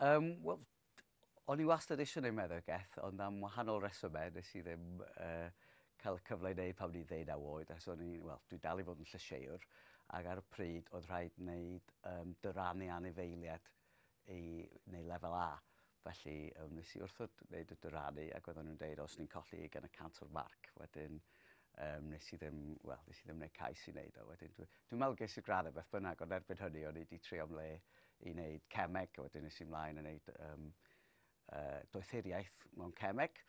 Um, wel, o'n i wastad eisiau gwneud meddygeth, ond am wahanol resymau nes i ddim uh, cael y cyfle i wneud pan ni'n ddeud ddeunaw oed, achos o'n i, wel, dwi dal i fod yn llysieir, ac ar y pryd oedd rhaid wneud um, dyrannu anifeiliad i, neu lefel A. Felly yym nes i wrthod wneud y dyranu ac oedden nhw'n deud os ni'n colli ugain y cant o'r marc wedyn um, nes i ddim, wel, nes i ddim wneud cais i wneud o. Wedyn, dwi'n dwi meddwl ges i'r gradd e beth bynnag, ond erbyn hynny o'n i wedi trio am le i wneud cemeg, a wedyn nes i mlaen yn wneud um, uh, doethuriaeth mewn cemeg,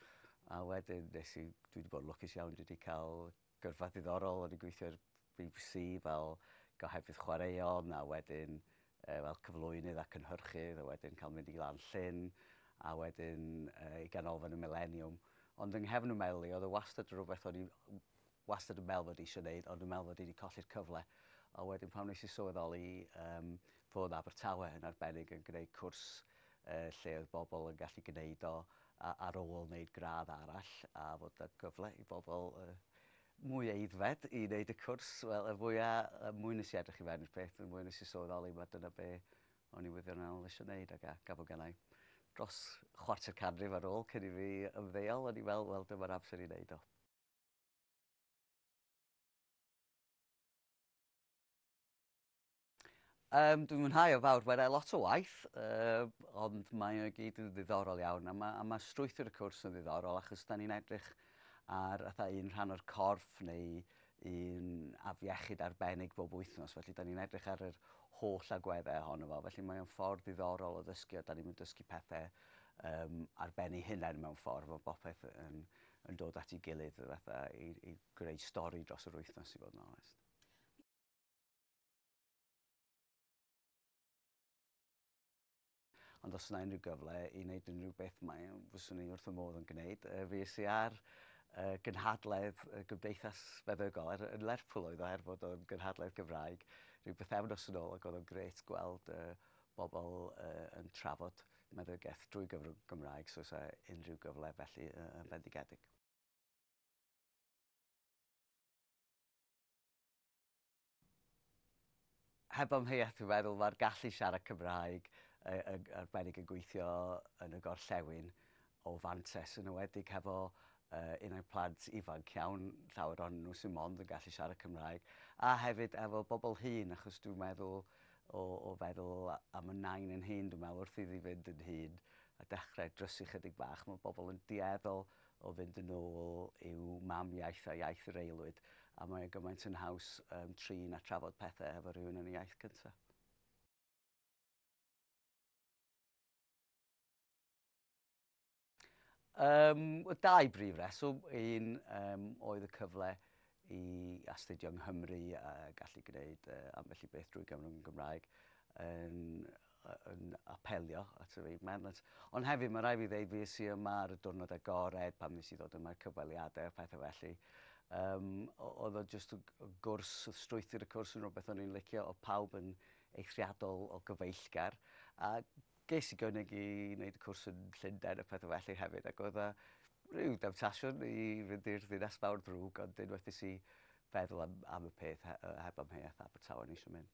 a wedyn nes i, dwi wedi bod yn lwcus iawn, dwi wedi cael Gyrfa ddiddorol, o'n i'n gweithio i'r bbc fel gohebydd chwaraeon a wedyn uh, fel cyflwynydd a cynhyrchydd a wedyn cael mynd i lan llyn a wedyn uh, i ganolfan y Millennium. Ond yng nghefn y meli, oedd y wastad rhywbeth o'n i wastad yn meddwl fod eisiau gwneud, ond yn meddwl fod i wedi colli'r cyfle. A wedyn pam nes i sylweddoli um, fod Abertawe yn arbennig yn gwneud cwrs uh, lle oedd bobl yn gallu gwneud o a ar ôl wneud gradd arall a fod 'na gyfle i bobl yy mwy aeddfed i wneud y cwrs wel y fwya y mwy nes i edrych i fewn i'r peth y mwy nes i sylweddoli ma' dyna be' o'n i wirioneddol isio neud ag a gafo gennai dros chwarter canrif ar ôl cyn i fi ymddeol o'n i fel wel dyma'r amser i neud o. Um, dwi'n mwynhau o fawr, mae'n lot o waith, uh, ond mae o gyd yn ddiddorol iawn, a mae, a mae strwythur y cwrs yn ddiddorol, achos da ni'n edrych ar atha, un rhan o'r corff neu un afiechyd arbennig bob wythnos, felly da ni'n edrych ar yr holl agweddau ohono fo, felly mae'n ffordd ddiddorol o ddysgu, a da ni'n dysgu pethau um, arbennu hunain mewn ffordd, mae bopeth yn, yn dod at ei gilydd fatha, i, i greu stori dros yr wythnos i fod yn onest. Ond os yna unrhyw gyfle i wneud unrhyw beth mae fyswn i wrth fy modd yn gwneud. Yy fi sy ar y gynhadledd y Gymdeithas Feddygol er yn Lerpwl oedd o er fod o'n gynhadledd Gymraeg rhyw bythefnos yn ôl ac oedd o'n grêt gweld yy bobl yy yn trafod meddygaeth drwy gyfrwng Gymraeg so sa unrhyw gyfle felly yy yn fendigedig. Heb amheuaeth dwi'n meddwl mae'r gallu siarad Cymraeg yn arbennig yn gweithio yn y gorllewin o fantes yn ewedig hefo unai plant ifanc iawn, llawer o'n nhw sy'n mond yn gallu siarad Cymraeg, a hefyd efo bobl hŷn achos dwi'n meddwl o, o feddwl am y nain yn hŷn dwi'n meddwl wrth iddi fynd yn hŷn a dechrau drysu chydig bach mae bobl yn dueddol o fynd yn ôl i'w mam iaith a iaith yr aelwyd, a mae e gymaint yn haws um, trin a trafod pethau efo rhywun yn y iaith cyntaf. Um, y dau brif reswm, un um, oedd y cyfle i astudio yng Nghymru a gallu gwneud uh, ambell i beth drwy gyfrwng yn Gymraeg yn yn apelio at yr Aid Merlets. Ond hefyd, mae rhaid fi ddeud, fi es i yma ar y diwrnod agored pan nes i ddod yma'r cyfweliadau a pethau felly. Um, oedd o jyst y gwrs, strwythyr y cwrs yn rhywbeth o'n i'n licio, o pawb yn eithriadol o gyfeillgar. A ges i gynnig i wneud y cwrs yn Llundain a pethau felly hefyd, ac oedd o rhyw demtasiwn i fynd i'r ddinas mawr ddrwg, ond unwaith nes i feddwl am, am y peth heb amheuaeth Abertawe nes i mynd.